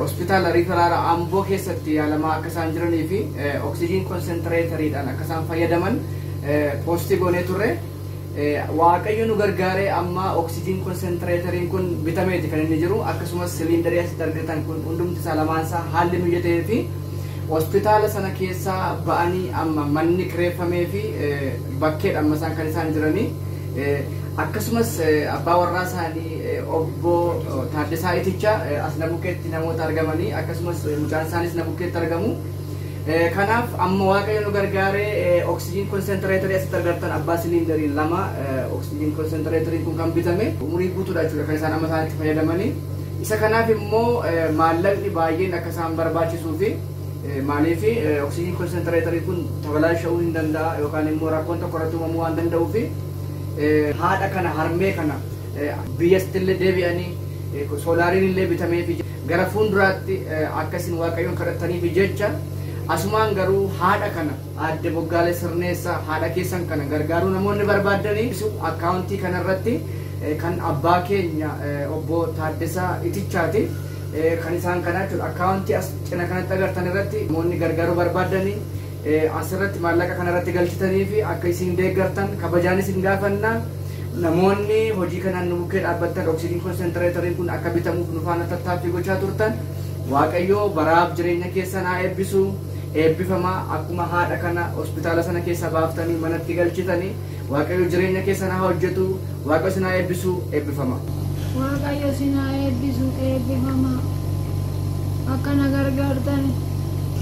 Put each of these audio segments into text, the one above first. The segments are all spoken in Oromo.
Hospitaala Riifaraala Amboo keessatti yaalamaa akka isaan jiranii fi oksijiin konsentireetariidhaan akka isaan fayyadaman poostii goonee turre. Waaqayyo nu gargaaree amma oksijiin konsentireetariin kun bitameeti kan inni jiru akkasumas siliindarii asitti argitan kun hundumti isaa lamaan isaa haalli mijatee fi hospitaala sana keessaa ba'anii amma manni kireeffamee fi bakkeedha amma isaan kan isaan jiranii. Akkasumas abbaa warraa isaanii obbo Taaddasaa Itichaa as na bukkeetti namoota argamanii akkasumas mucaan isaanis na bukkeetti argamu. Kanaaf amma waaqayyo nu gargaaree oksijiin konsentereetarii asitti argattan abbaa siliindariin lama oksijiin konsentereetariin kun kan bitame umurii guutuudha jechuudha kan isaan amma isaan itti fayyadamanii. Isa kanaaf immoo maallaqni baay'een akka isaan barbaachisuu fi maaliif oksijiin konsentereetarii kun tabalaasha'uu hin danda'a yookaan immoo rakkoon tokko irratti uumamuu waan danda'uu fi haadha kana harmee kana biyyastille deebi'anii soolaariin illee bitameefi gara fuulduraatti akka isin waaqayyoon kadhattaniif jecha asumaan garuu haadha kana aadde boggaalee sirneessaa haadha keessan kana gargaaruu namoonni barbaaddanii akkaawuntii kanarratti kan abbaa keenya obbo Taaddasaa Itichaati kan isaan kanaa jechuudha akkaawuntii as cina kanatti agartan irratti namoonni gargaaruu barbaaddanii As irratti maallaqa kana irratti galchitanii fi akka isiin deeggartan kabajaan isin gaafanna. Namoonni hojii kanaan nu bukkee dhaabbattan oksijiin konsentereetariin kun akka bitamuuf nu faana tattaaffii gochaa turtan Waaqayyoo baraaf jireenya keessan haa eebbisu. Eebbifamaa akkuma haadha kana hospitaala sana keessa baaftanii manatti galchitanii Waaqayyo jireenya keessan haa hojjetu. Waaqayyo isin haa eebbisu. Eebbifama. Waaqayyo isin haa eebbisu eebbifamaa akka na gargaartan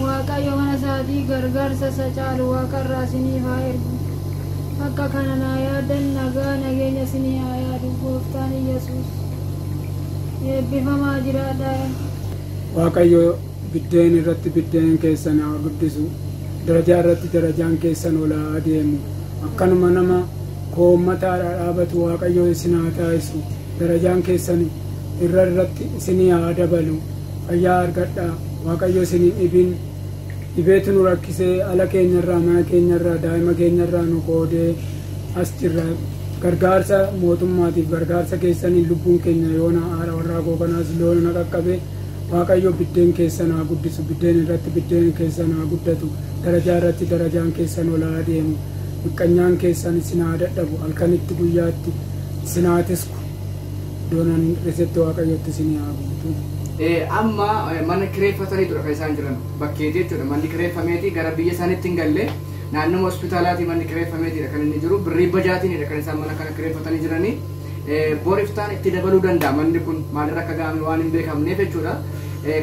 Waaqayyo mana isaatii gargaarsa isa caalu waaqarraa isiniif haa ergu akka kana naa yaadan nagaa nageenya isinii haa yaadu gooftaan Iyyasuus eebbifamaa jiraadhaa. Waaqayyo Biddeen irratti biddeen keessan haa guddisu, darajaa irratti darajaan keessan ol haa adeemu. Akkanuma nama koommataadhaa dhaabatu Waaqayyo isin haa taasisu, darajaan keessan irra irratti isinii haa dabalu. Fayyaa argadhaa, Waaqayyo isin hin dhibin. Dhibeetu nu rakkisee ala keenyarraa, mana keenyarraa, daa'ima keenyarraa nu qoodee as jirra. Gargaarsa mootummaatiif, gargaarsa keessaniin lubbuun keenya yoona haadha warraa koo kanaas loona na qaqqabe. Waaqayyo biddeen keessan haa guddisu, biddeen irratti biddeen keessan haa guddatu, darajaa irratti darajaan keessan ol haa adeemu, miqqanyaan keessan isin haa dadhabu, halkanitti guyyaatti isin haa tisku, iddoon ani hin hir'isetti Waaqayyotti isin haa guutu. Ee, amma eh, mana kireeffataniitudha kan isaan jiran bakkeeti jechuudha manni kireeffameeti gara biyya isaaniitti hin galle naannoma hospitaalaatii manni kireeffameetiidha kan inni jiru birrii bajaatiinidha kan isaan mana kana kireeffatanii jiranii Bor iftaan itti dabaluu danda'a manni kun maalirra akka ga'ame waan hin beekamneef jechuudha.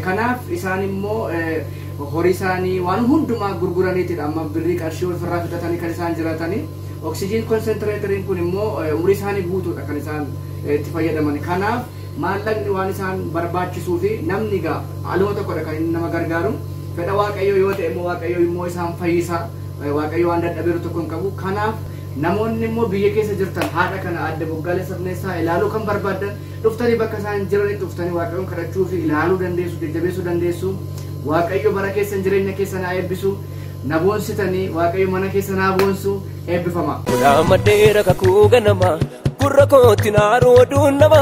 Kanaaf isaan immoo horii isaanii waan hundumaa gurguraniitidha amma birrii qarshii ofirraa fixatanii kan isaan jiraatanii. Oksijiin konsentiraateriin kun immoo umurii isaanii guutuudha kan isaan itti fayyadaman. Kanaaf maallaqni waan isaan barbaachisuu fi namni egaa aluma tokkodha kan inni nama gargaaru. Fedha Waaqayyoo yoo ta'e immoo Waaqayyoo immoo isaan fayyisa. Waaqayyo waan dadhabeeru tokko hin qabu. Kanaaf Namoonni immoo biyya keessa jirtan haadha kana Aadde Boggaalee Sabneessaa ilaaluu kan barbaaddan dhuftanii bakka isaan jiranitti dhuftanii Waaqayyoon kadhachuu fi ilaaluu dandeessu, jajjabeessuu dandeessu. Waaqayyo bara keessan jireenya keessan haa eebbisu. Na boonsitanii Waaqayyo mana keessan haa boonsu. Eebbifamaa. Godhaa maddeera kakuu ganama gurra kootti naaruu oduun nama.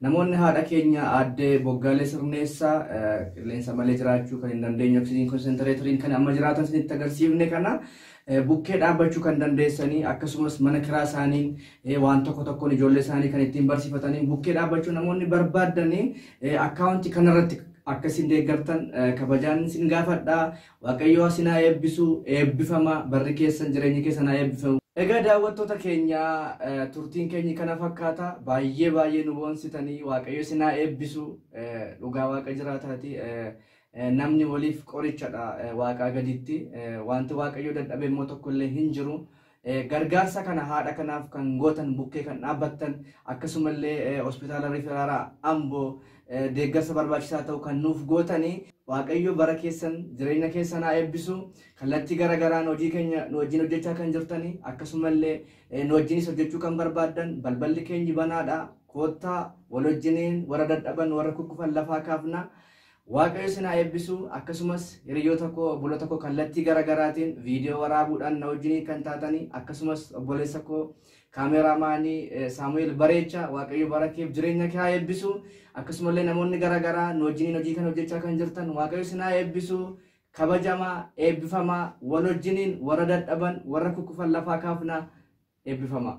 Namoonni haadha keenya aadde Boggaalee Sirneessaa qilleensa malee jiraachuu kan hin dandeenye oksijiin konsentereetariin kan amma jiraatan isinitti agarsiifne kana bukkee dhaabbachuu kan dandeessanii akkasumas mana kiraa isaaniin waan tokko tokkoon ijoollee isaanii kan ittiin barsiifataniin bukkee dhaabbachuu namoonni barbaaddanii akkaawuntii kanarratti akkasiin deeggartan kabajaan isin gaafadha Waaqayyoo asin haa eebbisu eebbifama barri keessan jireenyi keessan haa eebbifamu. Egaa daawwattoota keenya turtiin keenyi kana fakkaata baay'ee baay'ee nu boonsitanii waaqayyo isin haa eebbisu dhugaa waaqa jiraataati namni waliif qorichadha waaqaa gaditti wanti waaqayyo dadhabe immoo tokkollee hin jiru Gargaarsa kana haadha kanaaf kan gootan, bukkee kan dhaabbattan, akkasumallee Hospitaala Riferaalaa Amboo deeggarsa barbaachisaa ta'u kan nuuf gootani, Waaqayyo bara keessan, jireenya keessan haa eebbisu. Kallattii gara garaan hojii keenya nu wajjin hojjechaa kan jirtani, akkasumallee nu wajjinis hojjechuu kan barbaaddan balballi keenyi banaadha. Koottaa wal wajjiniin warra dadhaban, warra kukkufan lafaa kaafna. Waaqayyo isin haa eebbisu akkasumas hiriyyoota koo obboloota koo kallattii gara garaatiin viidiyoo waraabuudhaan na wajjiniin kan taatanii akkasumas obboleessa koo kaameraamaanii Saamu'eel Bareechaa Waaqayyo bara keef jireenya kee haa eebbisu akkasumallee namoonni gara garaa nu wajjiniin hojii kan hojjechaa kan jirtan Waaqayyo isin haa eebbisu kabajamaa eebbifamaa wal wajjiniin warra dadhaban warra kukkufan lafaa kaafna eebbifamaa.